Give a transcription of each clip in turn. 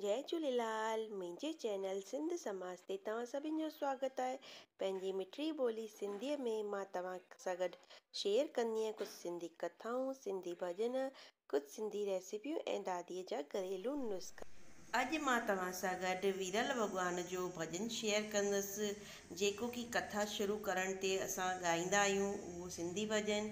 جئي جهوليلال منهنجي چينل سنڌ سماج تي توهان سڀن جو سواگت آهي پنهنجي مٺڙي ٻولي سنڌي ۾ مان توهان سان گڏ شيئر ڪندي آهيان ڪجهه سنڌي ڪٿائون سنڌي ڀڄن ڪجهه سنڌي ريسيپيون ۽ دادي جا گهريلو نسخا. اڄ مان توهان سان گڏ ويرل وڳوان جو ڀڄن شيئر ڪندس جيڪو ڪي ڪٿا شروع ڪرڻ تي اسان ڳائيندا آهيون اهو سنڌي ڀڄن.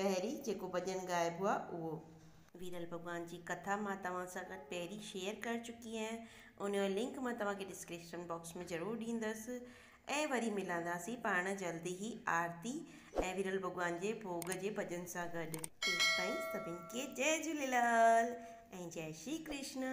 پهرين جيڪو ڀڄن ڳائبو آهي اهو. ويرل ڀڳوان جي ڪٿا مان توهان سان گڏ پهرين شيئر ڪر چڪي آهيان ان جو لنڪ مان توهان کي ڊسڪريشن باڪس ۾ ضرور ڏيندس ۽ وري ملنداسين پاڻ جلد ئي آرتي ۽ ويرل ڀڳوان جي ڀوڳ جي ڀڄن سان گڏ. تيستائين سڀني کي جئي جهوليلال ۽ جئي شري ڪرشنا.